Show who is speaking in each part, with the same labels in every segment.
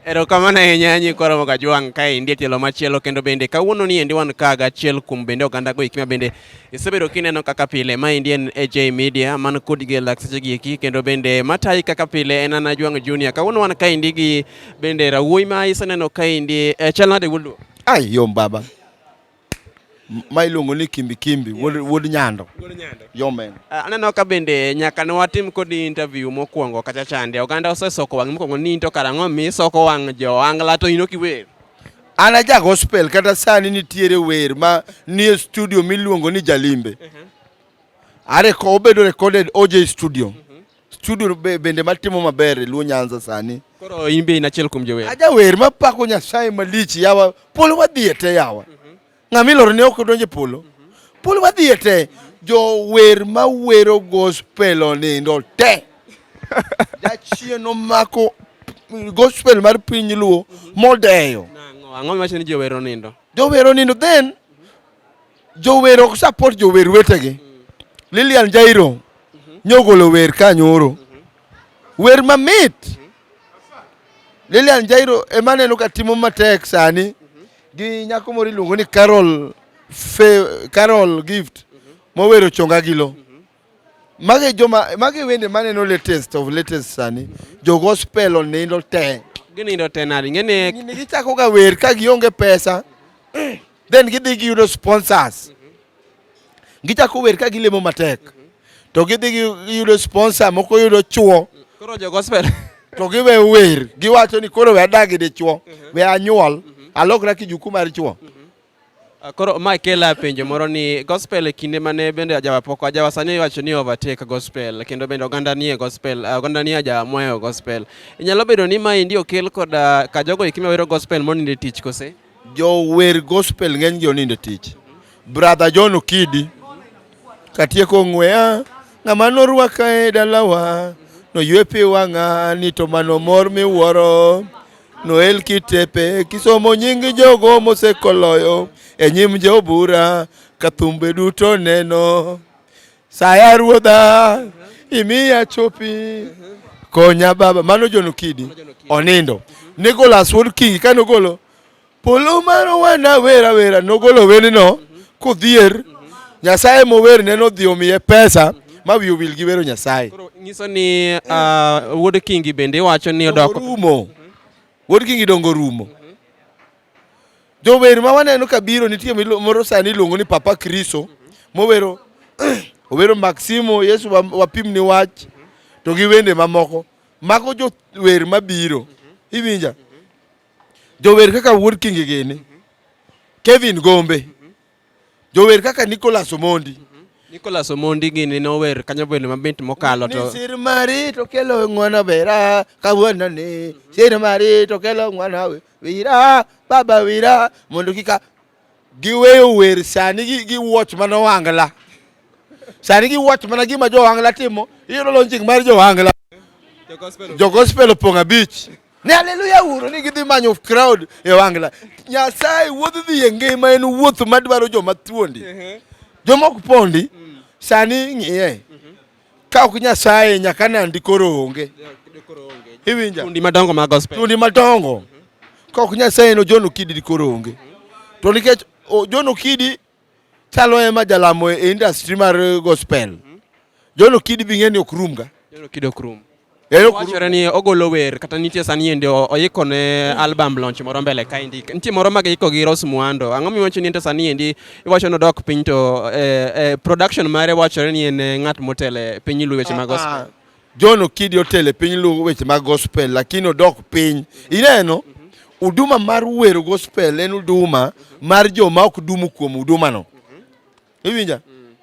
Speaker 1: Erokamano ahinya nyi koromo ka jwang' ka endi e tielo machielo kendo bende kawuono ni endi wan ka gachiel kuom bende oganda go ikima bende isebedo kineno kaka pile ma endi en AJ Media man kod gi lakseche gi eki kendo bende matayi kaka pile en ana jwang' junior kawuono wan ka endi gi bende rawuoyi ma iseneno ka endi e chal nade wuod Ai yom baba.
Speaker 2: ma iluongo ni kimbi kimbi wuod yes. wuod nyando wuod nyando yo men uh, aneno ka bende
Speaker 1: nyaka ne watim kodi interview mokwongo kacha chande oganda osesoko wang' mokwongo ni into karang'o mi isoko wang' jo angla to ino kiwer an aja
Speaker 2: gospel kata sani nitiere wer ma nie studio miluongo ni jalimbe uh -huh. are ko obedo recorded OJ studio uh mhm. -huh. Studio be, bende matimo maber e Luo Nyanza sani. Koro in be in achiel
Speaker 1: kuom jower. Ajawer mapako
Speaker 2: Nyasaye malich yawa polo wadhiye te yawa. Mm -hmm. Ng'ama iloro ne ok odonje polo. Mm -hmm. Polo wadhiye te. Mm -hmm. Jower mawero gospel onindo te. Jachien omako gospel mar piny Luo mm -hmm. modeyo. Ang'o miwacho
Speaker 1: ni jower onindo? Jower onindo then
Speaker 2: Jower ok support jower wetegi. Lilian Jairo nyogolo wer ka nyoro. Wer mamit. Lilian Jairo ema neno ka timo matek sani gi nyako moro iluongo ni Carol Fe, Carol Gift mowero chonga gilo. Magi joma magi wende maneno latest of latest sani. Jo gospel onindo te. Ginindo te nadi
Speaker 1: ngene. Gini gichako ga wer
Speaker 2: ka gionge pesa. Then gidhi giyudo sponsors. Gichako wer ka gilemo matek. To gidhi giyudo sponsor moko yudo chuo. Koro jo gospel
Speaker 1: to giwe
Speaker 2: wer giwacho ni koro we adagi dichuo we anyuol alokra kijuku mar chuo Ah, koro
Speaker 1: ma kela penjo moro ni gospel e kinde mane bende ajawa poko ajawa sani iwacho ni overtake gospel kendo bende oganda nie gospel ah, oganda nie ajawa moyo gospel inyalo bedo ni ma indi okel kod ah, ka jogo ikime wero gospel moninde tich kose jo wer
Speaker 2: gospel ng'eny gi oninde tich brother John Okidi katieko ng'weya ng'ama norwaka e dalawa noywe pi wang'a ni to mano mor miwuoro Noel Kitepe kisomo nying jogo mosekoloyo e nyim jobura ka thumbe duto neno saya ruodha imiya chopi konya baba mano John Okidi onindo Nicholas Wood King kane ogolo Polo mar owanda wera wera nogolo wendno kodhier Nyasaye mower ne nodhi omiye pesa ma wiyo wil gi wero Nyasaye. Koro nyiso ni
Speaker 1: ah, Wuod Kingi bende iwacho ni odoko. Rumo.
Speaker 2: Wuod Kingi dongo rumo. Jower ma waneno ka biro nitie milu- moro sani iluongo ni Papa Kriso mowero owero Maximo Yesu wa- wapimni wach to gi wende mamoko mago jower mabiro iwinja Jower kaka Wuod Kingi gini, Kevin Gombe, jower kaka Nicholas Omondi. Nicholas Omondi
Speaker 1: gini nower kanyo bende mabit mokalo to. Sir mari to
Speaker 2: kelo ng'wana bera kawuono ni. Sir mari to kelo ng'wana wira baba wira mondo kika Giweyo wer sani gi, gi watch mana wangla. Sani gi watch mana gima jo wangla timo. Iyudo launching mar jo wangla. Jo gospel opong' abich. Ne haleluya uro ni gidhi manyo crowd e wangla. Nyasaye wuodh dhi e ngima en wuoth madwaro joma thuondi. Joma ok pondi sani ng'iye. Ka ok Nyasaye nyaka nandi koro onge. Iwinja? Tundi madongo mag
Speaker 1: gospel. Tundi madongo.
Speaker 2: Ka ok Nyasaye no John Okidi koro onge. To nikech John Okidi chalo ema jalamo e industry mar gospel. John Okidi bing'eni ok rumga. John Okidi ok rum.
Speaker 1: wachore ni ogolo wer kata nitie sani ende oiko ne album launch moro mbele kaendi nitie moro mag iko gi Rose Muhando ang'o miwacho ni ente sani endi iwacho ni odok piny to eh, eh, production mare wachore ni en eh, ng'at motele piny luweche mag gospel ah, ah. John Okidi
Speaker 2: otele piny luwo weche mag gospel lakini odok piny ineno huduma mar wero gospel en huduma mar joma ok dumu kuom hudumano iwinja mm.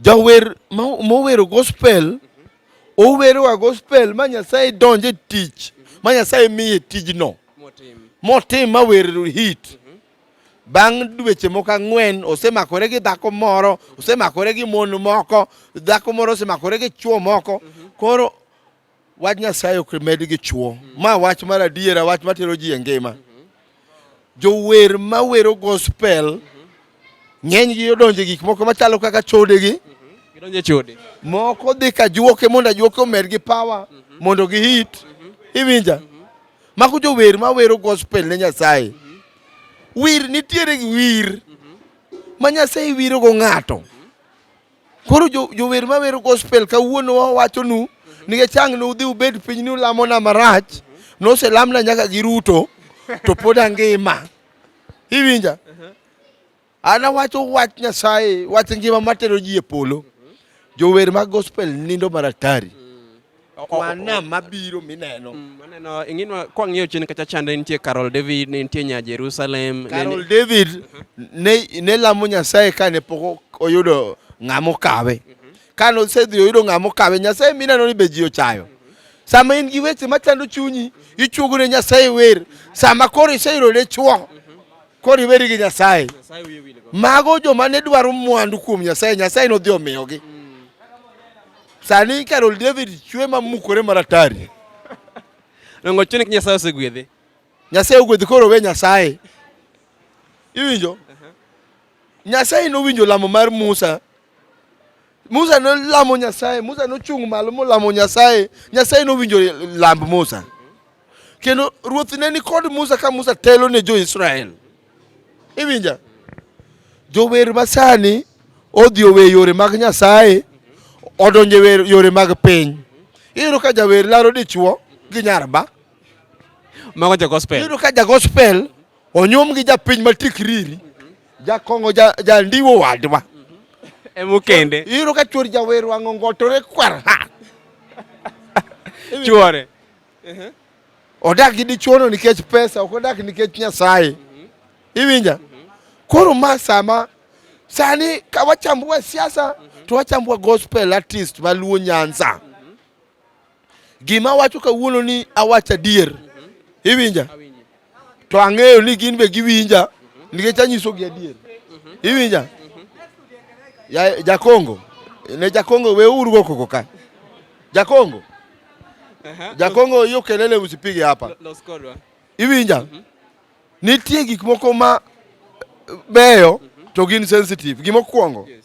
Speaker 2: jawer mowero gospel mm -hmm. owerowa gospel ma nyasaye donje tich mm -hmm. ma nyasaye miye tijno motim ma wer hit mm -hmm. bang' dweche moko ang'wen osemakore gi dhako moro osemakore gi mon moko dhako moro osemakore gi chuo moko mm -hmm. koro Wach Nyasaye ok med gi chwo. Ma wach mar adiera, wach matero ji e ngima. Jower ma wero gospel ng'eny gi odonje gik moko machalo kaka chode gi. Gidonje chode.
Speaker 1: Moko dhi ka
Speaker 2: juoke mondo ajuoke omed gi power mondo gi hit. Iwinja? Mako jower ma wero gospel ne Nyasaye. Wir nitiere wir ma Nyasaye wiro go ng'ato. Koro jower ma wero gospel kawuono wawachonu ni chang' nudhi ubed piny ni ulamona marach noselamna nyaka gi Ruto to pod angima. Iwinja? An awacho wach Nyasaye, wach ngima matero ji e polo. Jower mag gospel nindo maratari. wanam mabiro mineno mm, maneno ing'inwa
Speaker 1: kwa ng'iyo chien kacha chande nitie Carol David ne nitie nya Jerusalem Carol David
Speaker 2: ne ne lamo Nyasaye kane pok oyudo ng'amo kawe mhm. kane osedhi oyudo ng'amo kawe Nyasaye mineno ni be ji ochayo sama in gi weche machando chunyi ichuogo ne Nyasaye wer sama koro iseyudo ne chuo mhm. koro iweri gi Nyasaye mago joma ne dwaro mwandu kuom Nyasaye Nyasaye nodhi omiyogi mm. Sani Carol David chwe ma mukore maratari.
Speaker 1: Rongo chuni Nyasaye osegwedhe. Nyasaye ogwedhi
Speaker 2: koro we Nyasaye. Iwinjo? Nyasaye nowinjo lamo mar Musa. Musa nolamo Nyasaye, Musa nochung' malo molamo Nyasaye. Nyasaye nowinjo lamb Musa. Kendo ruoth ne ni kod Musa ka Musa telo ne jo-Israel. Iwinja? Jower masani odhi owe yore mag Nyasaye odonje yore mag piny. Iyudo ka jawer laro dichuo gi nyarba.
Speaker 1: Mago ja gospel. Iyudo ka ja gospel
Speaker 2: onyum gi japiny matikriri. Jakongo ja, ja ndiwo wadwa. Emu
Speaker 1: kende. Iyudo ka chuor jawer
Speaker 2: wang'o ngotore kwar ha.
Speaker 1: Chuore.
Speaker 2: Uh-huh. Odak gi dichuono nikech pesa, ok odak nikech Nyasaye. Mm-hmm. Iwinja? Mm-hmm. Koro ma sama sani ka wachambua siasa mm-hmm. to wachambua gospel artist maluo Nyanza. Gima wacho kawuono ni awacha dier. Iwinja? to ang'eyo ni gin be giwinja nikech anyisogi adier. Iwinja? Ya Jakongo, ne Jakongo we uru go koko ka. Jakongo. Jakongo hiyo kelele usipige hapa. Iwinja? Mhm. Nitie gik moko ma beyo to gin sensitive. Gimokwongo. Yes.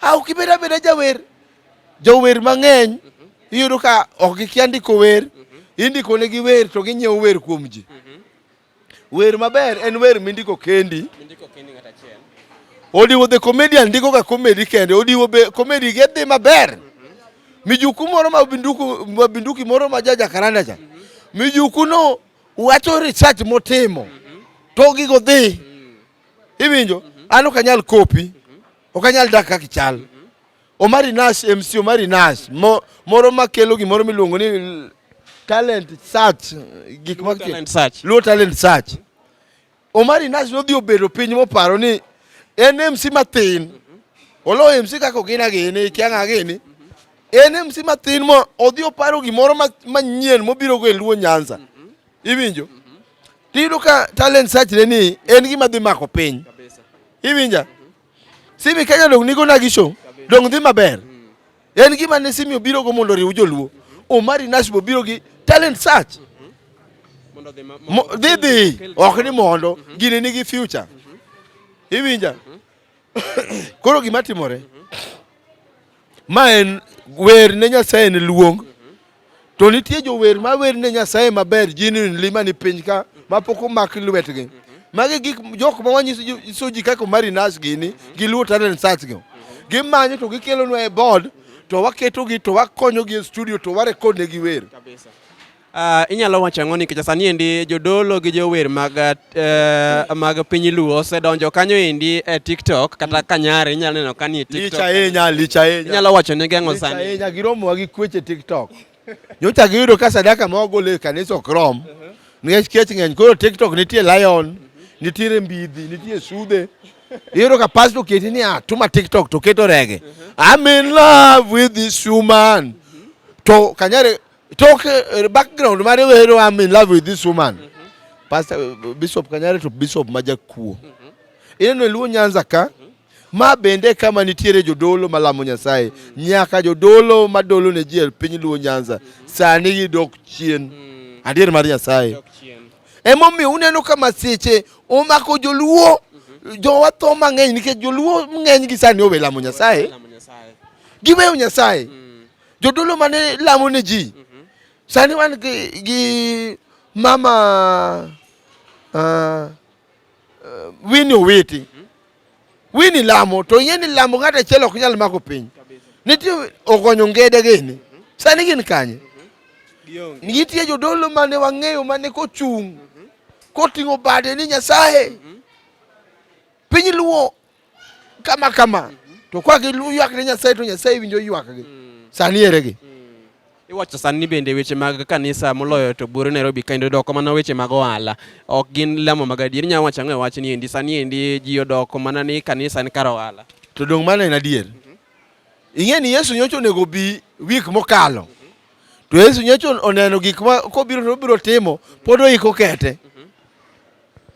Speaker 2: a ok ibed abeda jawer jower mang'eny iyudo ka ok gikia ndiko wer indiko negi wer to ginyiewo wer kuom ji wer maber en wer mindiko kendi odiwo the comedian ndiko ka comedy kende odiwo be comedy ge dhi maber mijuku moro ma binduku ma binduki moro ma jaja karanda cha mijuku no wacho research motimo to gigo dhi Iwinjo? An ok anyal kopi. Ok anyal dak kaka ichal. Omari Nash, MC Omari Nash, mo, moro makelo gimoro miluongo ni talent search, gik ma talent search. Luo talent
Speaker 1: search.
Speaker 2: Omari Nash nodhi obedo piny moparo ni en MC mathin. Olo MC kaka ogina gini, ikianga gini. En MC mathin mo odhi oparo gimoro manyien mobiro go e Luo Nyanza. Iwinjo? Mm -hmm. Tiyudo ka talent search le ni en gima dhi mako piny. Kabisa. Iwinja? Mm -hmm. Simi Kenya dong nigo na gisho. Kabisa. Dong dhi maber. Mm -hmm. En gima ne Simi obiro go mondo riw joluo. Mm -hmm. Omari Nash biro gi talent search. Mm -hmm. Dhi dhi. Ok ni mondo. Mm -hmm. Gini nigi future. Mm -hmm. Iwinja? Mm -hmm. Koro gima timore ma en wer ne Nyasaye en luong to nitie jower ma wer ne Nyasaye maber genuinely mani piny ka mapok omak lwetgi magi gik jok ma wanyiso ji kaka Omari Nash gini gi Luo Talent Search go gimanyo to gikelonwa e board to waketogi to wakonyogi e studio to warekodnegi wer Uh,
Speaker 1: inyalo wacho ang'o nikech sani endi jodolo gi jower mag, uh, mag piny luo osedonjo kanyo endi e tiktok kata mm. kanyare inyalo neno kani e tiktok licha licha inyalo
Speaker 2: wacho negi ang'o sani
Speaker 1: ahinya giromowa gi
Speaker 2: kweche tiktok nyocha giyudo ka sadaka ma wagolo e kanisa ok rom uh-huh. nikech kech ng'eny koro tiktok nitie lion uh-huh. nitiere mbidhi nitie sude iyudo ka pasto oketi ni atuma ah, tiktok to keto rege uh-huh. I'm in love with this woman to kanyare Talk uh, background mare wero I'm in love with this woman. Mm -hmm. Pastor uh, Bishop Kanyare to Bishop Majakuo. Mm -hmm. Ineno Luo Nyanza ka mm -hmm. ma bende kama nitiere jodolo malamo Nyasaye mm -hmm. nyaka jodolo madolo ne ji piny Luo Nyanza mm -hmm. sani gidok chien. Mm -hmm. Adier mar Nyasaye. Dok chien. Emomiyo uneno ka masiche omako joluo mhm. jowa tho mang'eny nikech joluo ng'eny gi sani owe lamo Nyasaye, giweyo Nyasaye. Mm. Jodolo mane lamo ne ji. Mhm. Sani wan gi, gi mama uh, ah, uh, Winnie Owiti. Mhm. Winnie lamo to ing'e ni lamo ng'ato achiel ok nyal mako piny. Nitie ogonyo ngede gini. Mhm. Sani gin kanye? Nitie jodolo mane wang'eyo mane kochung' koting'o bade ni Nyasaye. Piny luo kama kama to kwa ki lu ywak ne nyasaye to nyasaye winjo ywak gi mm. sani ere gi mm. iwacho
Speaker 1: sani bende weche mag kanisa moloyo to bure Nairobi kendo doko mana weche mag ohala ok gin lamo mag adier inyalo wacho ang'o e wach ni endi sani endi ji odoko mana ni kanisa en kar ohala to dong' mano en adier
Speaker 2: mm-hmm. ing'e ni Yesu nyocha onego bi wik mokalo mm-hmm. to Yesu nyocha oneno gik ma kobiro to obiro timo pod oiko kete mm-hmm.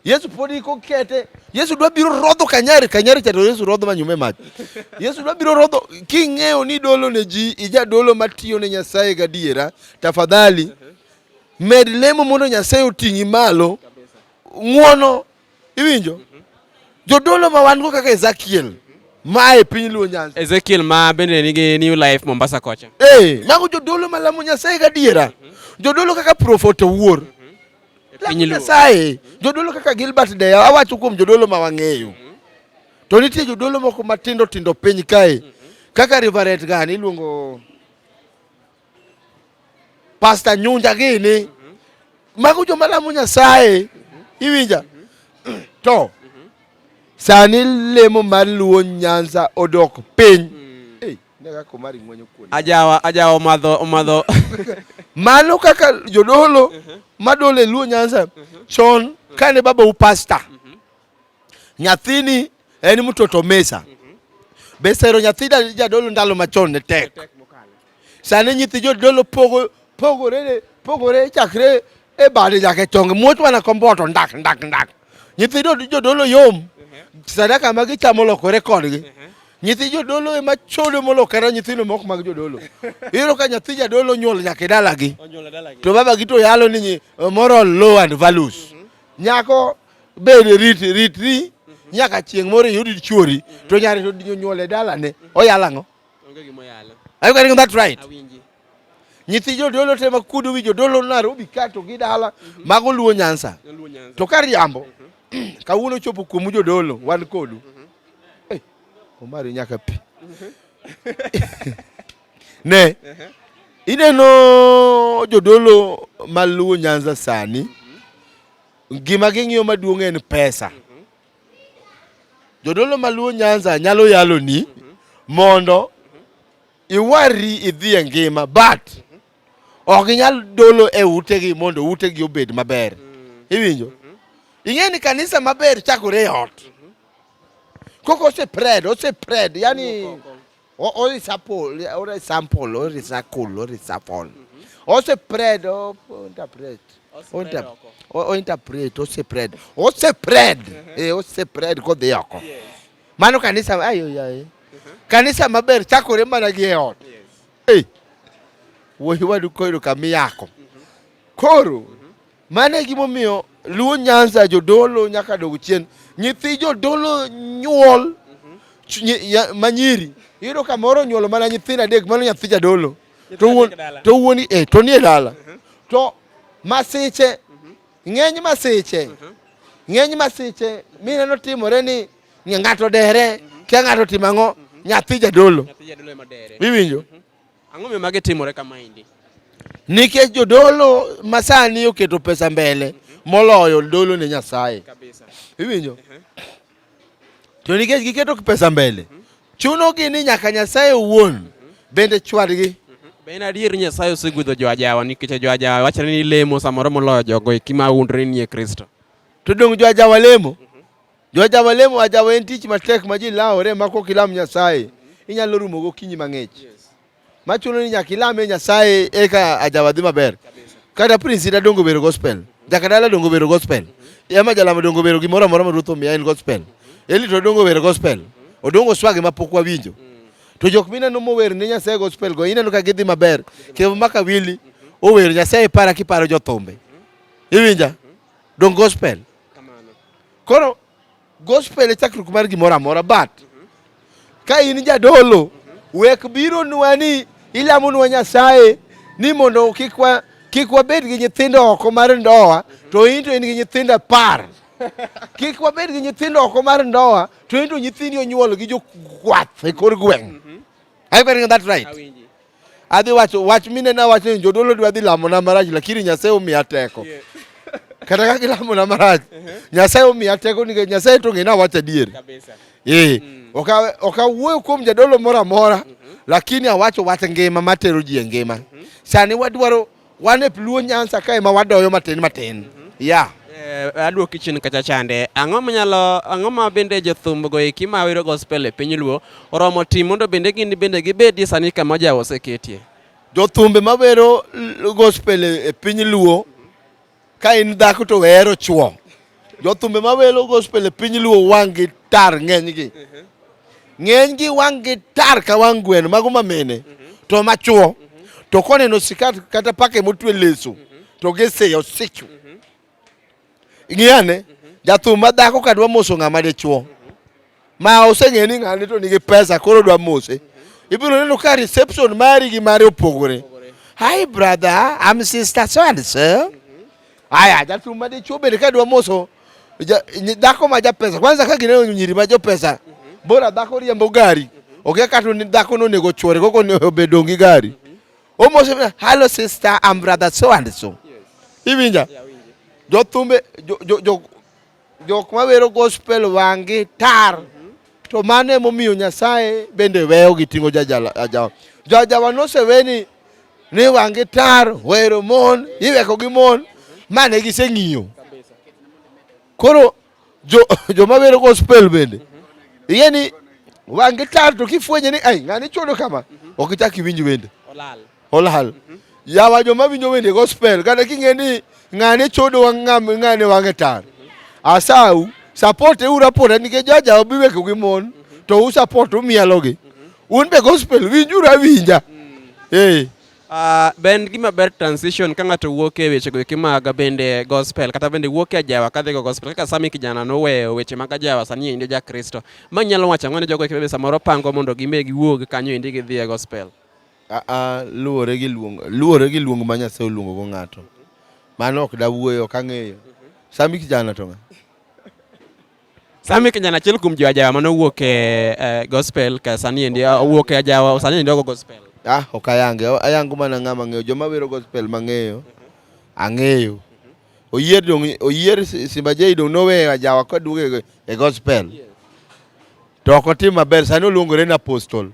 Speaker 2: Yesu pod iko kete. Yesu dwa biro rodho kanyari, kanyari cha to Yesu rodho manyume mach. Yesu dwa biro rodho king'eyo ni dolo ne ji, ija dolo matiyo ne Nyasaye gadiera, tafadhali med lemo mondo Nyasaye oting'i malo. Ng'wono iwinjo? Jodolo ma wan go kaka Ezekiel ma e piny Luo Nyanza. Ezekiel ma bende
Speaker 1: nigi New Life Mombasa kocha. Eh, mago jodolo
Speaker 2: malamo Nyasaye gadiera. Jodolo kaka Prophet Owuor. e piny Nyasaye jodolo kaka Gilbert Deya awacho kuom jodolo ma wang'eyo to nitie jodolo moko matindo tindo piny kae kaka Rivaret gani iluongo Pasta Nyunja gini mago joma lamo Nyasaye iwinja to sani lemo mar luo Nyanza odok piny
Speaker 1: ajawa ajawa omadho omadho mano
Speaker 2: kaka jodolo uh-huh. madole luo nyanza uh-huh. chon uh-huh. kane baba upasta nyathini en mtoto mesa be sero nyathi jadolo ndalo machon ne tek sani nyithi jodolo pogo pogore pogore chakre e bade nyaka e chonge muoch mana komboto ndak ndak ndak nyithi jodolo yom mhm. sadaka ma gichamo lokore kodgi mhm. nyithi jodolo ema chodo molokore nyithindo moko mag jodolo iyudo ka nyathi jadolo nyuol nyaka e dalagi to babagi to yalo ni moral low and values mhm. nyako bed rit ritri nyaka chieng' moro iyud chuori to nyare to nyuol e dalane oyalo ang'o
Speaker 1: Are you getting that right?
Speaker 2: nyithi jodolo te ma kudo wi jodolo Nairobi ka to gi dala mhm. mago luo Nyanza to ka riambo mhm. kawuono chopo kuomu jodolo wan kodu mhm. eh, Omari nyaka pi ne ineno jodolo ma luo Nyanza sani gima ging'iyo maduong' en pesa jodolo ma luo Nyanza nyalo yalo ni mondo iwarri idhi e ngima but ok inyal dolo e utegi mondo utegi obed maber iwinjo ing'e ni kanisa maber chakore e ot koko ose pred ose pred yani orisapol orisampol orisakul orisapol ose pred interpret ointerpret ose pred ose pred ose pred kodhi oko Mano kanisa ayo yaye. Kanisa maber chakore mana gi e ot. Hey. Wuoyi wadu koyudo kama iyako. Mhm. Koro mhm. mano e gimomiyo Luo Nyanza jodolo nyaka dog chien. Nyithi jodolo nyuol mhm. manyiri yudo kamoro nyuolo mana nyithindo adek mano nyathi jadolo to wuon to wuoni eh to nie dala to masiche Ng'eny masiche, mhm. ng'eny masiche mineno timore ni ng'ato dere, mhm. kia ng'ato timo ang'o, mhm. nyathi jadolo. Iwinjo? Ang'o miyo
Speaker 1: magi timore kama indi? Nikech
Speaker 2: jodolo masani oketo pesa mbele moloyo dolo ne Nyasaye. Iwinjo? To nikech giketo pesa mbele, chunogi ni nyaka Nyasaye owuon bende chwadgi. Be en adier ni
Speaker 1: Nyasaye osegwedho jo ajawa nikech jo ajawa wachre ni lemo samoro moloyo jogo eki ma undre ni e Kristo. To dong' jo
Speaker 2: ajawa lemo? Jo ajawa lemo, ajawa en tich matek ma ji lawore ma kok ilam Nyasaye inyalo rumo gokinyi mang'ich. machuno ni nyaka ilame Nyasaye eka ajawadhi maber. Kata prince ita dongo bero gospel, jaka dala dongo bero gospel, ema jalama dongo bero gimoro amora ma Ruoth omiya en gospel. Eli to dongo bero gospel, odongo swagi ma pok wawinjo. To jok mineno mower ne Nyasaye gospel go ineno ka gidhi maber. Kevo maka wili ower Nyasaye para kiparo jothumbe. Iwinja? Dongo gospel. Koro Gospel e chakruok mar gimoro amora but ka in jadolo wek biro nwa ni ilamo nwa Nyasaye ni mondo kik wa kik wabed gi nyithindo oko mar ndoa to in to in gi nyithindo apar kik wabed gi nyithindo oko mar ndoa to in to nyithindi onyuol gi jokwath e kor gweng' Are you getting that right? Awinji. Adhi wacho wach mine na wacho ni jodolo dwa dhi lamo na marach lakini Nyasaye omiya teko. Yeah. Kata ka gilamo na marach. Uh -huh. Nyasaye omiya teko nikech Nyasaye to ng'e na wacho adier. Kabisa. Eh. Mm. Oka oka wuoyo kuom jadolo moro amora mm -hmm. lakini awacho wach ngima matero ji e ngima. Mm -hmm. Sani wadwaro Wan e Luo Nyanza kae ma wadoyo matin matin. Mm -hmm. Yeah.
Speaker 1: Eh, aduoki chien kacha chande ang'o manyalo ang'o ma bende jothum go eki ma wiro gospel e piny luo oromo tim mondo bende gin bende gibedie sani kama ja oseketie jothumbe ma
Speaker 2: wero gospel e piny luo Ka in dhako to wehero chwo. Jothumbe ma welo gospel e piny luo wang' gi tar ng'enygi. Ng'enygi wang' gi tar ka wang' gweno mago ma mine to ma chwo to koneno sikat kata pake motwe leso to giseyo sichu. Ing'iyane jathum ma dhako kadwa moso ng'ama dichwo. Ma oseng'e ni ng'ani to nigi pesa koro dwa mose. Ibiro neno ka reception mari gi mari opogore. Hi brother, I'm sister so and so. Aya, jatum ma dichuo bende ka dwa moso dhako ma japesa. Kwanza ka gineno nyiri ma jopesa, bora dhako riembo gari. Okia kata ni dhako no nego chwore koko ne obedo gi gari. Omoso, hello sister, I'm brother so and so. Iwinja? Jothumbe jo, jo, jo Jok ma wero gospel wangi tar to mano emomiyo Nyasaye bende weyo gi ting'o jajawa. Jajawa nosewe ni ni wangi tar wero mon iweko gi mon mane giseng'iyo. Koro jo joma wero gospel bende iye ni wangi tar to kifwenye ni ai ng'ani chodo kama ok ichak iwinj wende. Olal. Mm -hmm. Yawa joma winjo wende gospel kata king'e ni ng'ane chodo wa ng'ane wange tar. Asau support e ura pota nikech jaja obiweko gi mon to u support umielo gi. Un be gospel winjura winja. Mm. Eh. Hey. Uh,
Speaker 1: ben gima ber transition ka ng'ato wuok e weche goeki mag bende gospel kata bende wuok e ajawa kadhigo gospel kaka sami kijana noweyo weche mag ajawa sani endi ja kristo ma nyalo wacho ang'o ne jogo eki bende samoro pango mondo gime giwuog kanyo endi gidhi e gospel Aa,
Speaker 2: luwore gi luong, luwore gi luong ma Nyasaye oluongo go ng'ato. Mano ok dawuoyo, ok ang'eyo. Sami kijana to ng'a? Sami
Speaker 1: kijana achiel kuom jo ajawa mane owuok e eh, gospel ka sani endi ah, owuok e ajawa sani endi ogo gospel. Ah, ok ayange,
Speaker 2: ayango mana ng'ama ng'eyo. Joma wero gospel mang'eyo, ang'eyo. Oyier dong, oyier Simba Jay dong noweyo ajawa koduogo e- e gospel. To ok otim maber, sani oluongore ni apostol,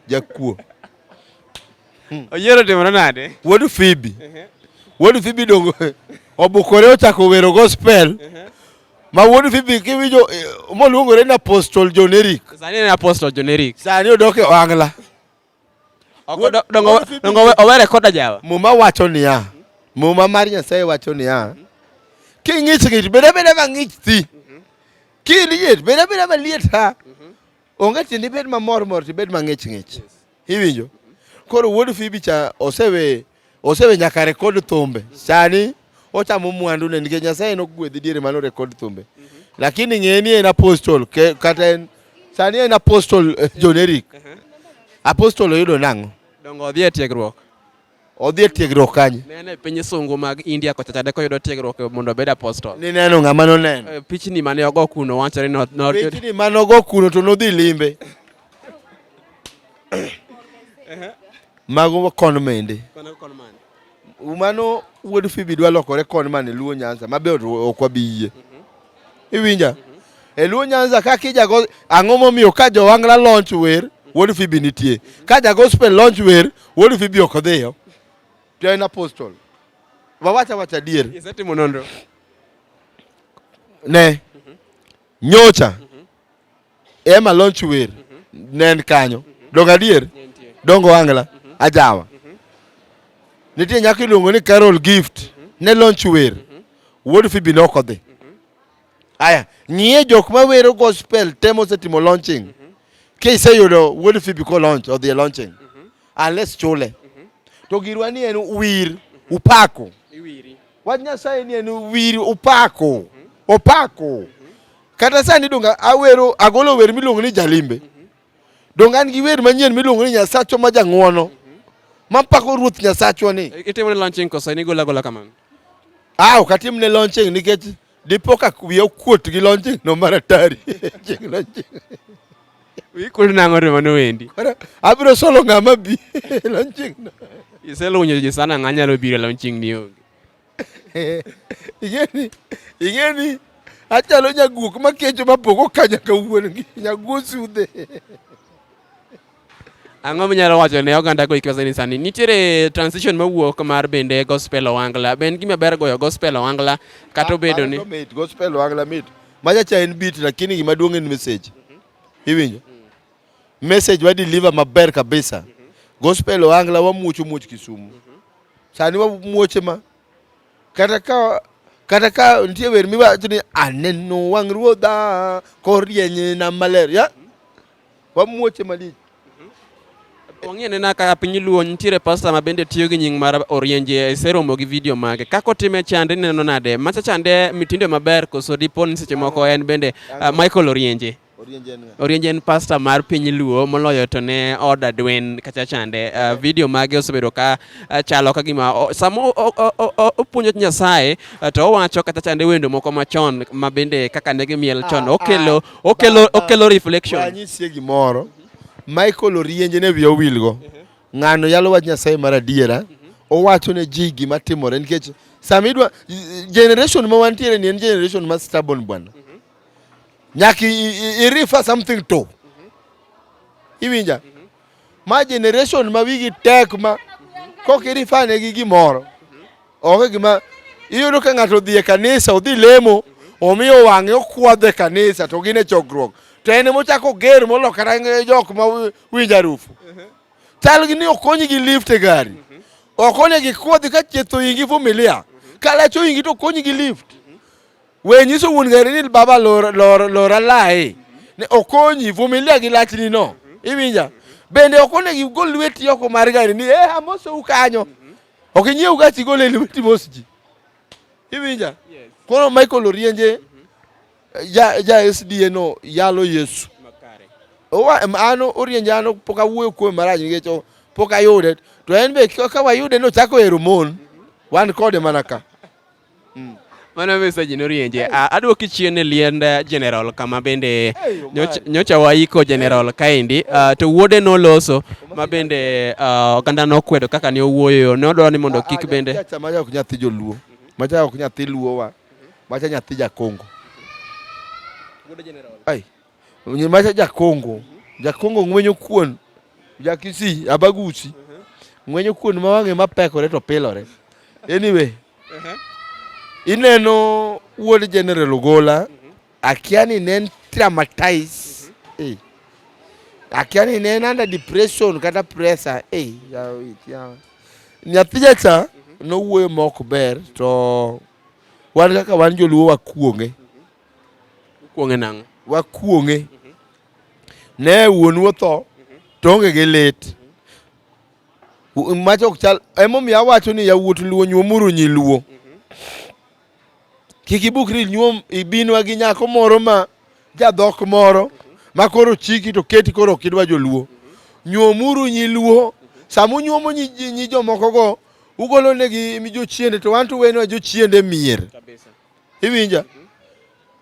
Speaker 2: jakuo. Hmm.
Speaker 1: Oyiero timore nade? Wuod Fibi.
Speaker 2: Uh-huh. Wuod Fibi dongo obukore ochako wero gospel. Uh-huh. Ma wuod Fibi kiwinjo eh, moluongore ni apostol John Eric. Sani en apostol John
Speaker 1: Eric. Sani odok e ohangla. owere koda jawa muma wacho niya
Speaker 2: muma mar nyasaye wacho niya king'ich ng'ich bed abeda mang'ich thi kiliet bed abeda maliet ha onge tiende ibed mamor mor tibed mang'ich ng'ich iwinjo koro wuod fibi cha osewe Osewe nyaka rekod thumbe. Sani ochamo mwandu ne nikech Nyasaye nogwedhi diere mano rekod thumbe. Mm -hmm. Lakini ng'e ni en apostol ke, kata en sani en apostol eh, John Eric. Uh -huh. Apostol oyudo nang'o? Dongo odhi e tiegruok.
Speaker 1: Odhi e
Speaker 2: tiegruok kanye? Nene e piny sungu
Speaker 1: mag India kocha chade koyudo tiegruok mondo obed apostol. Ni neno ng'ama noneno.
Speaker 2: Eh, pichni mane ogo
Speaker 1: kuno wachore no. Pichni mane ogo
Speaker 2: kuno to nodhi limbe. Mago kon mende. Mano wuod Fibi dwa lokore kon man e Luo Nyanza mabe ok wabi yie. Mhm. Iwinja? Mhm. E Luo Nyanza kaka ijago ang'o momiyo ka Jowangla launch wer wuod Fibi nitie. Mhm. Ka ja gospel launch wer wuod Fibi ok odhiyo. To en apostle. Wawacha wacha dier. Isetimo nonro. Ne. Nyocha. Emma Lonch Wer ne en kanyo. Dongo adier? Dongo Wangla, Ajawa. Nitie nyako iluongo ni Carol Gift ne Lonch Wer. Wuod Fibi ne ok odhi. Aya, ng'iye jok ma wero gospel temo setimo launching. Ka iseyudo Wuod Fibi ko launch, odhi e launching. Unless chule. To girwa ni en wir, upako. Wach Nyasaye ni en wir, upako. Opako. Kata sani donga awero agolo wer miluongo ni Jalimbe. Donga an gi wer manyien miluongo ni Nyasachwa ma jang'wono. Mapako Ruoth Nyasachwa ni. Itimo ne launching kosa
Speaker 1: ni gola gola kamano. Ah, ok
Speaker 2: atim ne launching nikech dipo ka wiya okuot gi launching no mar atari. Ching launching.
Speaker 1: Wikuot nang'o to mano wendi. Koro abiro solo
Speaker 2: ng'ama bi launching no. Iselunyo ji
Speaker 1: sana ng'a nyalo biro launching ni onge. ing'eni
Speaker 2: ing'eni achalo nyaguok makecho mapoko ka nyaka wuongi nyaguo sudhe
Speaker 1: Ang'o minyalo wacho ne oganda go ikiwa ni sani nitiere transition mawuok mar bende gospel owangla ben gima ber goyo gospel owangla kata ah, obedo ni gospel owangla mit
Speaker 2: machacha en beat lakini gima duong' en message iwinjo message wa deliver maber kabisa. Gospel Ohangla wamuocho muoch Kisumu. Sani wamuoche ma kata ka kata ka nitie wer miwacho ni aneno wang' ruodha korieny na maler ya wamuoche malich
Speaker 1: wang'e nena ka piny luo nitiere pasta ma bende tiyo gi nying mar orienje iseromo gi video mage kaka otime chande neno nade macha chande mitindo maber koso dipo ni seche moko en bende uh, Michael Orienje Orienje en pasta mar piny Luo moloyo to ne oda Dwen kacha chande. Uh, video mage osebedo ka uh, chalo ka gima uh, sama opuonjo Nyasaye uh, to owacho kata chande wendo moko machon ma bende kaka ne gimiel chon ah, okelo ah, okelo okelo reflection. Wanyisie gimoro
Speaker 2: Michael Orienje ne wiye owilgo ng'ano yalo wach Nyasaye mar adiera owacho ne ji gima timore nikech sama idwa generation ma wantiere ni en generation ma stubborn bwana Nyaka irifa something to. Iwinja? Ma generation ma wigi tek ma kok irifane gi gimoro. Onge gima iyudo ka ng'ato odhi e kanisa odhi lemo omiyo wang'e okwadhe kanisa to gin e chokruok to en mochako ger molokara jok ma winjo arufu chal gi ni okonyi gi lift e gari okonye gi kodhi ka chieth oyingi vumilia ka lach oyingi to okonyi gi lift We nyiso wuon gari ni baba lor, lor, lora lae ne okonyi vumilia gi lachni no iwinja bende ok onego igol lweti oko mar gari ni eh amosou kanyo ok inyiew gachi igol e lweti mos ji iwinja koro Michael Orienje ja, ja SDA no yalo Yesu Owa- em, an Orienje an pok awuoyo kuome marach nikech o- pok ayude to en be ka ka wayude nochako hero mon wan kode mana ka Mm.
Speaker 1: Mano message norienje. Ah, Aduoki chien e liend eh, General kama bende nyocha- nyocha waiko General kaendi ah, to wuode noloso ma bende ah, oganda nokwedo kaka ne owuoyo ne odwaro ni mondo kik bende Macha macha ok nyathi
Speaker 2: joluo. Macha ok nyathi luowa. Macha nyathi jakongo.
Speaker 1: Ai,
Speaker 2: Onye macha jakongo. Jakongo ng'wenyo kuon. Jakisi abagusi. Ng'wenyo kuon ma wang'e mapekore to pilore. Anyway. Ineno wuod General Ogola. Akia ni ne traumatized. Eh. Akia ni ne under depression kata pressure. Eh. Nyathi jacha nowuoyo mok ber to wan kaka wan joluo wakuonge. Kuong'e nang'o? Wakuong'e. Mhm. Ne wuonu otho mhm. to onge gi lit. Mhm. Mach ok chal emomiyo awacho ni yawuot luo nyuomuru nyi luo. Kik ibukri nyuom ibinwa gi nyako moro ma jadhok moro ma koro chiki to keti koro ok idwa joluo. Nyuomuru nyi luo. Sama unyuomo nyi jomokogo ugolonegi jochiende to wan to uwenwa jochiende mier. iwinja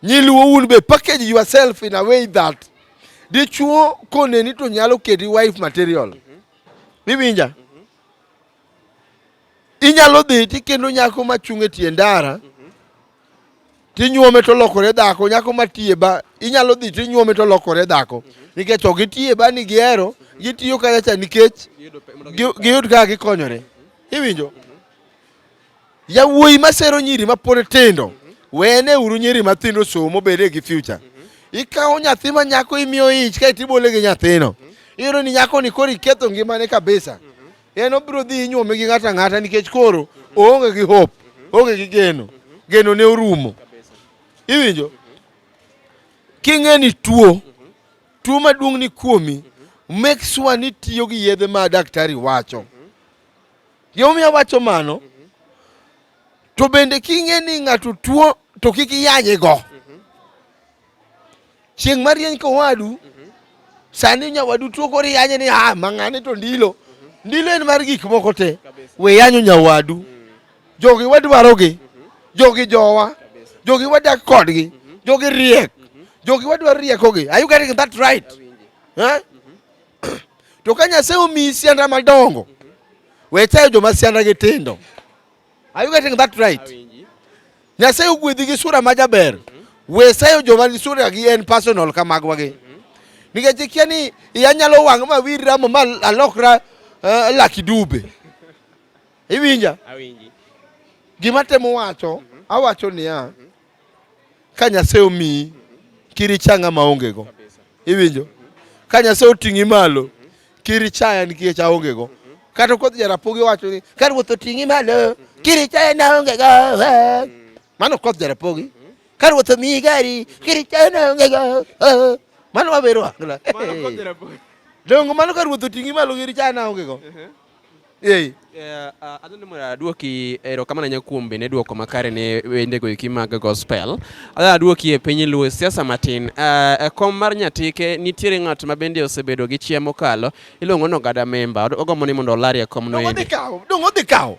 Speaker 2: nyiluo un be package yourself in a way that dichuo koneni to nyalo keti wife material iwinja inyalo dhi tikendo nyako machung' e tie ndara tinyuome to lokore dhako nyako matiye ba inyalo dhi tinyuome to lokore dhako nikech ok gitiye ba ni gihero gitiyo kanyacha nikech giyud kaka gikonyore iwinjo Yawuoyi masero nyiri mapod tindo, wene uru nyiri matindo somo bede gi future. Ikawo nyathi ma nyako imiyo ich kae tibole gi nyathino. Iyudo ni nyako ni koro iketho ngimane kabisa. En obiro dhi inyuome gi ng'ata ng'ata nikech koro oonge gi hope, oonge gi geno. Geno ne orumo. Iwinjo? King'e ni tuo, tuo maduong' ni kuomi, make sure ni tiyo gi yedhe ma daktari wacho. Gimomiyo awacho mano, to bende king'e ni ng'ato tuo to kik iyanye go. Chieng' marieny kowadu, sani nyawadu tuo koro iyanye ni ah, mang'ane to ndilo. Ndilo en mar gik moko te. We yanyo nyawadu. Jogi wadwarogi. Jogi jowa. Jogi wadak kodgi. Jogi riek. Jogi wadwaro riekogi. Are you getting that right? Eh? To ka Nyasaye omiyi sianda madongo, we chayo joma sianda gi tindo. Are you getting that right? Nyasaye ogwedhi gi sura ma jaber. We sayo joma ni sura gi en personal ka magwa gi. Nikech ikia ni iya nyalo wang' ma wir ramo ma alokra uh, laki dube. Iwinja? Awinji. Gima temo wacho, awacho niya, Ka Nyasaye omiyi kiri changa maongego, iwinjo? Ka Nyasaye oting'i malo kiri chaya nikech aongego. Kata kodhi jarapogi wacho ni ka ruoth oting'i malo kiri chaya naongego. Mano kodhi jarapogi. Ka ruoth omiyi gari kiri chaya naongego. Mano wabero angla.
Speaker 1: Dongo mano ka
Speaker 2: ruoth oting'i malo kiri chaya naongego. Ei. Yeah, uh,
Speaker 1: adhoni mondo aduoki erokamano ahinya kuom bende duoko makare ne wendego eki mag gospel. Adhani aduoki e piny luo siasa matin. Uh, e kom mar Nyatike nitiere ng'at ma bende osebedo gi chia mokalo iluongo ni Ogada Memba. Ogombo ni mondo olari e kom no endi. Dong' odhi kawo.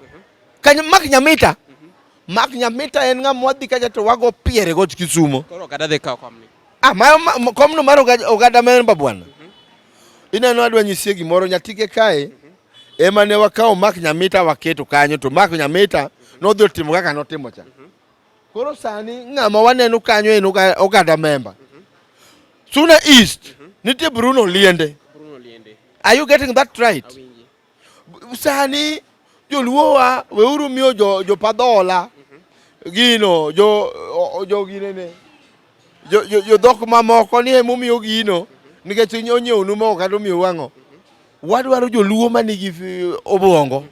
Speaker 2: Kanyo Mark Nyamita. Mark Nyamita en ng'ama wadhi kacha to wago piere got Kisumo. Koro Ogada dhi kawo kom
Speaker 1: ni. Ah, ma, ma,
Speaker 2: komno mar ogada memba bwana. Mhm. Ineno adwa nyisie gimoro nyatike kae. Mhm. Ema ne wakawo Mark Nyamita waketo kanyo to Mark Nyamita mhm. nodhi otimo kaka notimo cha. Koro sani ng'ama waneno kanyo en ogada memba. Suna East nitie Bruno Liende. Bruno Liende. Are you getting that right? Sani joluowa weuru miyo jo, jo padhola mhm. gino jo, jo ginene jo, jo, jo dhok mamoko ni emomiyo gino mhm. nikech onyiewonu moko kata omiyo wang'o mhm. wadwaro joluo ma nigi obwongo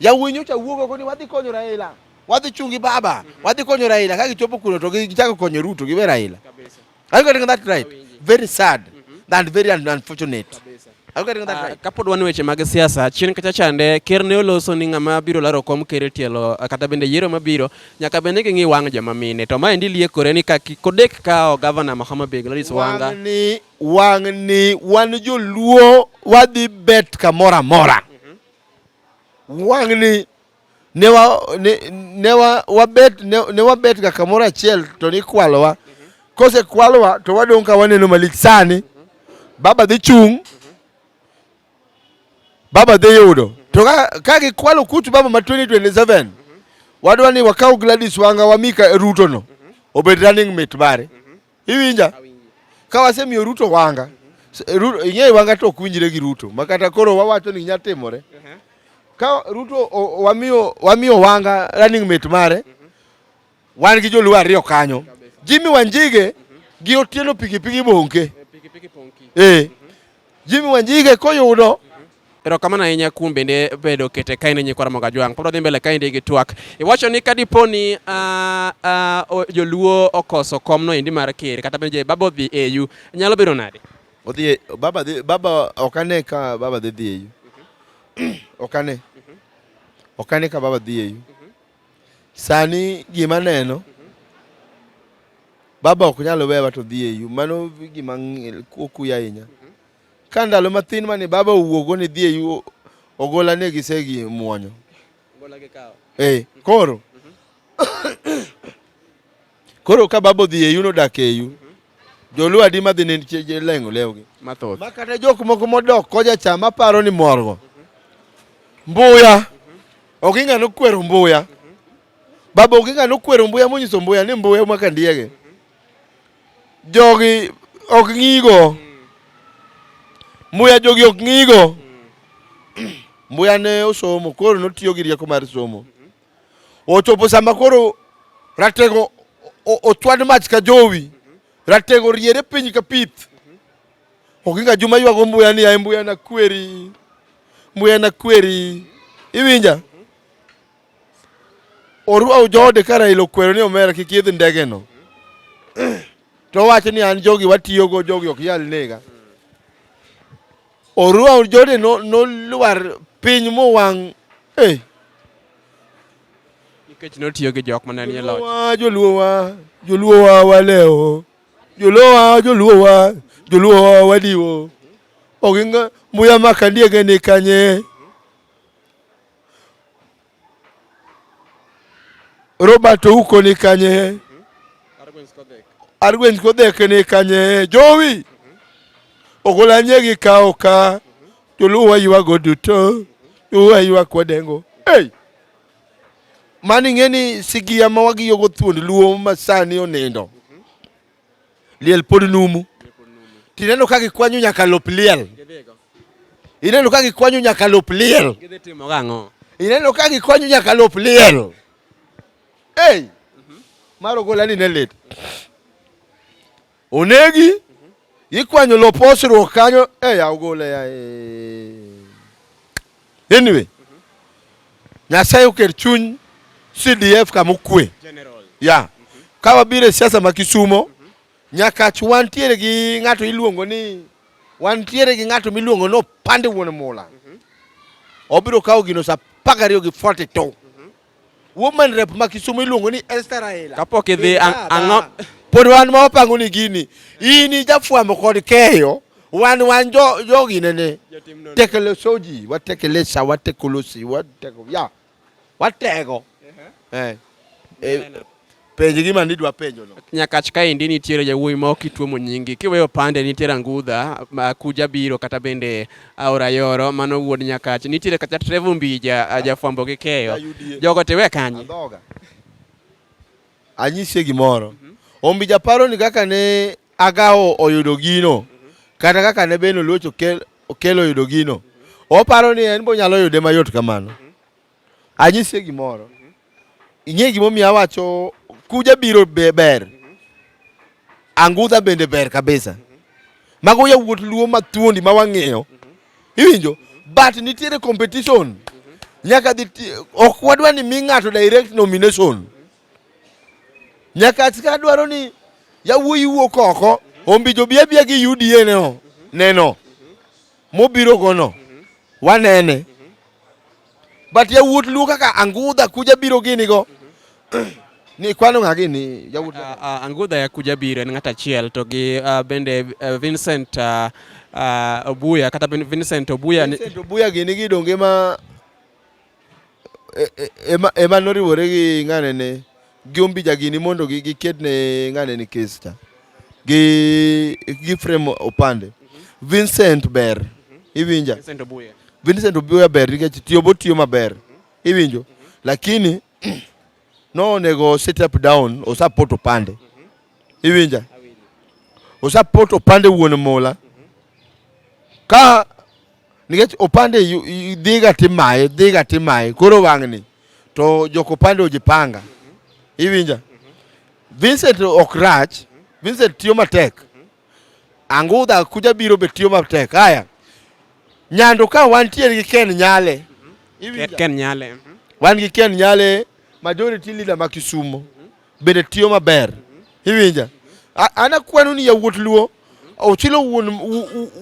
Speaker 2: yawuoyi nyocha wuogo koni wadhi konyo Raila wadhi chungi baba wadhi konyo Raila ka gichopo kuno to gichako konyo Ruto giwe Raila Are you getting that right? Very sad mm-hmm. and very unfortunate. Are you getting that ah, right? Kapod wan weche mag siasa
Speaker 1: chien kacha chande ker ne oloso ni ng'ama biro laro kom ker e tielo ah, kata bende yiero mabiro nyaka bende ging'i wang' joma mine to ma endi liekore ni kaki kodek kao gavana Mahama Beg Gladys Wanga wang'ni wang'ni
Speaker 2: wan joluo wadhi bet kamora mora mm-hmm. wang'ni ne wa ne, ne wa wabet ne, ne wabet ga kamoro achiel to nikwalowa kose kwalowa to wadong' ka waneno malich sani baba dhi chung' baba dhi yudo to ka gikwalo kutu baba ma 2027 wadwa ni wakaw Gladys Wanga wamika Ruto no obed running mate mare Iwinja? Ka wasemiyo Ruto wanga, ing'eyo wanga to ok winjre gi Ruto ma kata koro wawacho ni nya timore. Uh-huh. Ka Ruto wamiyo wamiyo wanga running mate mare, uh-huh. wan gi joluo ariyo kanyo. Jimmy Wanjige uh-huh. gi Otieno pikipiki bonke. Eh, eh. Jimmy Wanjige koyudo Erokamano ahinya
Speaker 1: kuom bende bedo kete kain e nyikwa Ramogi Ajwang'. Pod wadhi mbele kaendi gi twak. Iwacho ni ka dipo ni ah, ah, o- joluo okoso komno endi mar ker kata bende baba odhi eyu nyalo bedo nade? odhi e- baba
Speaker 2: dhi baba ok ane ka baba dhi dhi eyu ok ane ok ane ka baba dhi eyu sani gima neno baba ok nyal wewa to dhi eyu mano gima ng- ku- okuya ahinya Ka ndalo mathin mane baba owuogo ni dhi eyu ogola ne gisegi muonyo. Ogola gi kawo.
Speaker 1: Eh, koro.
Speaker 2: koro ka baba odhi eyu no dak eyu. Joluo adi madhi ne je lengo lewgi. Mathoth. Ma kata jok
Speaker 1: moko
Speaker 2: modok koja cha maparo ni morgo. Mbuya. Ok ing'ano kwero mbuya. Baba ok ing'ano kwero mbuya monyiso mbuya ni mbuya maka ndiege. jogi ok ng'igo mbuya jogi ok ng'igo mbuya ne osomo koro notiyo gi rieko mar somo ochopo sama koro ratego ochwad mach ka jowi ratego riere piny ka pith ok inga juma ywago mbuya ni ae mbuya na kweri mbuya na kweri iwinja Oruaw joode ka Raila okwero ni omera kik idh ndegeno to owacho ni an jogi watiyogo jogi ok yal nega. Oruaw joode nolwar no piny mowang' eh.
Speaker 1: Nikech notiyo gi jok mane nie loch. Joluowa, joluowa
Speaker 2: waleo, joluowa, joluowa, joluowa wadiwo. Oginga muya makandiege ni kanye. Robert Ouko ni kanye? Arwens Kodhek ni kanye? Jowi ogolanye gi kawo ka joluwa ywago duto joluwa ywak wadengo hey! mani ng'e ni sigiya ma wagiyogo thuond luo masani onindo liel pod numu tineno ka gikwanyo nyaka lop liel ineno ka gikwanyo nyaka lop liel ineno ka gikwanyo nyaka lop liel ei mar ogola ni ne lit onegi gikwanyo lop osruok kanyo eya ogola ya ee. Anyway, Nyasaye oker chuny CDF kama okwe. Yeah. Ka wabiro e siasa ma Kisumo, Nyakach wantiere gi ng'ato iluongo ni wantiere gi ng'ato miluongo ni Opande Wuon Mula. Obiro kawo gino sa apar gariyo gi forty two. Woman rep ma Kisumu iluongo ni Esther Raila. Kapok idhi
Speaker 1: ang'o pod wan ma
Speaker 2: wapango ni gini in ijafwamo kod keyo wan wan jo jogi nene tekele soji watekele sa watekolosi wateko ya watego eh, eh, eh Penj gima nidwa penjo no. Nyakach kaendi nitiere
Speaker 1: jawuoyi ma ok ituomo nyingi. Kiweyo pande nitiere Angudha, ma Kuja biro kata bende Aora Yoro mano wuod Nyakach. Nitiere kata Trevor Mbija a jafwambo gi keyo. Jogo tiwe kanye? Andhoga.
Speaker 2: Anyisie gimoro. Ombija paro ni kaka ne Agawo oyudo gino kata kaka ne Ben Oluoch okel, okel oyudo gino. Oparo ni en bonyalo yude mayot kamano. Anyise gimoro. Ing'e gimomiyo awacho kuja biro ber. Angudha bende ber kabisa. Mago yawuot luo mathuondi ma wang'eyo. Iwinjo? But nitiere competition. Nyaka dhi ok wadwa ni mi ng'ato direct nomination. Nyaka atika dwaro ni yawuoyi wuok oko ombijo bia bia gi UDA neno. Neno. mobiro gono wanene but yawuot luo kaka angudha kuja biro gini go ni kwano ng'a gini yawuot uh, uh, angudha ya kuja
Speaker 1: biro en ng'ata achiel to gi uh, bende uh, Vincent uh, uh, Obuya kata Vincent Obuya Vincent Obuya gini
Speaker 2: gidonge ma e, e, ema, ema noriwore gi ng'anene gi ombija gini mondo giked ne ng'anene kes cha gi, gi frem opande Vincent ber iwinja Vincent Obuya ber nikech tiyo bo tiyo maber iwinjo lakini no onego sit up down osapoto pande iwinja osapoto pande wuon mola ka nikech opande dhiga timaye dhiga timaye koro wang'ni to jok opande ojipanga iwinja Vincent ok rach Vincent tiyo matek angudha kuja biro be tiyo matek haya nyando ka wantiere gi Ken Nyale Ken
Speaker 1: Nyale mhm. wan gi Ken
Speaker 2: Nyale majority leader ma Kisumo bende tiyo maber. Iwinja? Ana kwanu ni yawuot luo ochilo wuon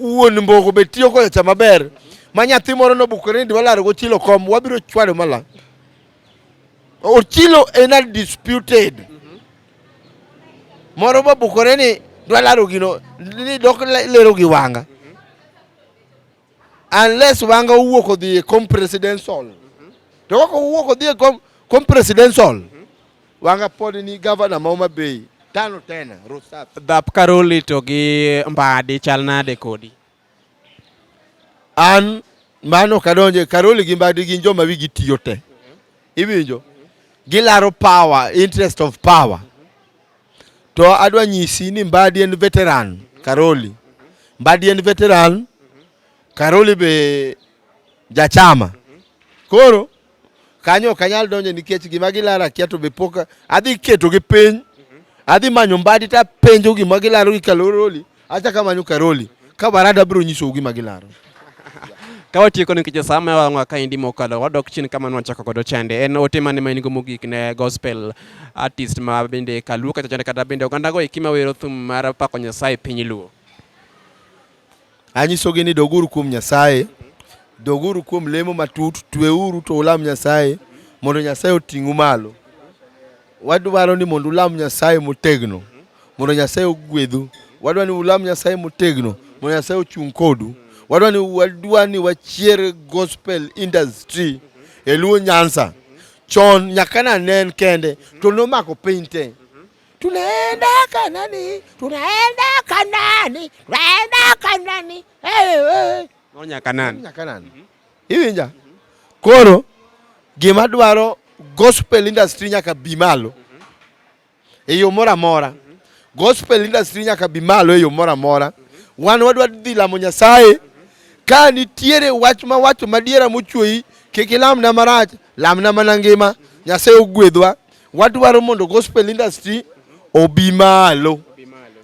Speaker 2: wuon mbogo be tiyo koyo cha maber. Ma nyathi moro nobukore ni dwalaro go chilo kom wabiro chwado mala. Ochilo en a disputed. Mm-hmm. Moro bobukore ni dwalaro gino ni dok lero gi wanga. unless wanga owuok odhi e com presidential to kaka owuok odhi e com, com presidential wanga pod ni governor ma Homa Bay tano tena Rusap Dhap Karoli to
Speaker 1: gi Mbadi chal nade kodi? an
Speaker 2: mano kadonje Karoli gi Mbadi gin joma wigi tiyo te iwinjo gilaro power interest of power To adwa nyisi ni Mbadi en veteran Karoli. Mbadi en veteran Karoli be jachama. Koro kanyo ok anyal donjo nikech gima gilara kia to be pok adhi keto gi piny. Adhi manyo Mbadi to apenjo gima gilaro gi Karoli. Acha kama nyuka roli. Ka barada bro nyiso ugi magilaro. Ka
Speaker 1: watieko ni kicha sama wa ngwa kaindi mokalo wadok chini kama nwa chako kodo chande. En ote mane ma in go mogik ne gospel artist ma bende kaluo kata chande kata bende oganda go ikima wero thum mar pako Nyasaye piny luo. Anyiso
Speaker 2: gi ni doguru kuom Nyasaye. Doguru kuom lemo matut, tweuru to ulam Nyasaye mondo Nyasaye oting'u malo. Wadwaro ni mondo ulam Nyasaye motegno mondo Nyasaye ogwedhu. Wadwa ni ulam Nyasaye motegno mondo Nyasaye ochung' kodu. Wadwa ni wadwa ni wachier gospel industry e Luo Nyanza. Chon nyaka na nen kende to nomako piny te. Tunaenda Kanani, tunaenda Kanani, tunaenda Kanani. Hey, hey.
Speaker 1: No nyakanani. Nyakanani. Mm -hmm.
Speaker 2: Iwinja? Koro gima dwaro gospel industry nyaka bi malo e yo moro amora. Gospel industry nyaka bi malo e yo moro amora. Wan wadwa dhi lamo Nyasaye. Ka nitiere wach ma wacho madiera mochweyi, kik ilamna marach, lamna mana ngima. Nyasaye ogwedhwa. Wadwaro mondo gospel industry obi malo.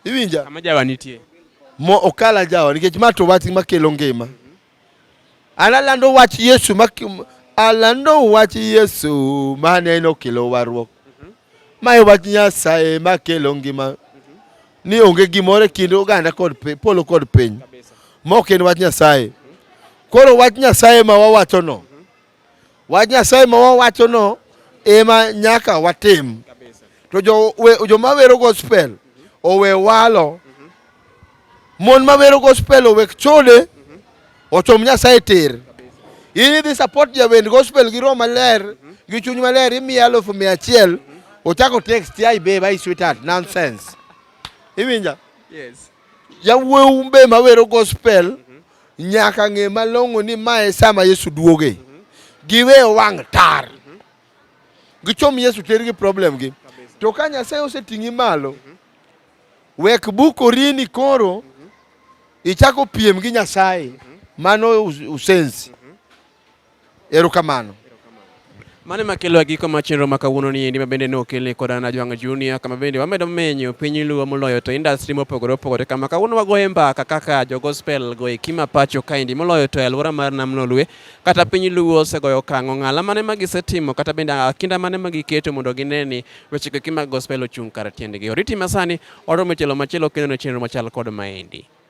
Speaker 2: Iwinja? Kama jawa nitie.
Speaker 1: Mo okala
Speaker 2: jawa nikech ma to wach makelo ngima. An alando wach Yesu ma alando wach Yesu ma ne nokelo warruok. Mhm. Ma e wach Nyasaye ma kelo ngima. Mhm. Ni onge gimoro e kind oganda kod polo kod piny. Mok en wach Nyasaye. Mhm. Koro wach Nyasaye ma wawachono. Wach Nyasaye ma wawachono ema nyaka watim. To joma wero gospel owe walo, mon ma wero gospel owe chode, ochom Nyasaye tir. In idhi support jawend gospel gi roho maler gi chuny maler imiye alufu mia achiel ochako text ya ibeba i sweetheart nonsense. Iwinja? Yes.
Speaker 1: Yawuowu
Speaker 2: be mawero gospel Nyaka ng'e malong'o ni mae sama Yesu duoge. Mhm. Giwe wang' tar. Mhm. Gichom Yesu tergi problem gi. To ka Nyasaye oseting'i malo, mhm. wek bukorini koro ichako piem gi Nyasaye. Mano usensi. Erokamano. Mane
Speaker 1: makelo giko ma chenro ma kawuono ni endi ma bende ne okelni koda na Jwang' Junior kama bende wamedo menyo piny luo moloyo to industry mopogore opogore kama kawuono wagoye mbaka kaka jo gospel go e kima pacho kaendi moloyo to e alwora mar Nam Lolwe kata piny luo osegoyo okang' ong'ala mane ma gisetimo kata bende kinda mane ma giketo mondo gine ni weche go e kima gospel ochung' kar tiendgi. Oriti masani oromo e tielo machielo kendo ne chenro machal kod maendi.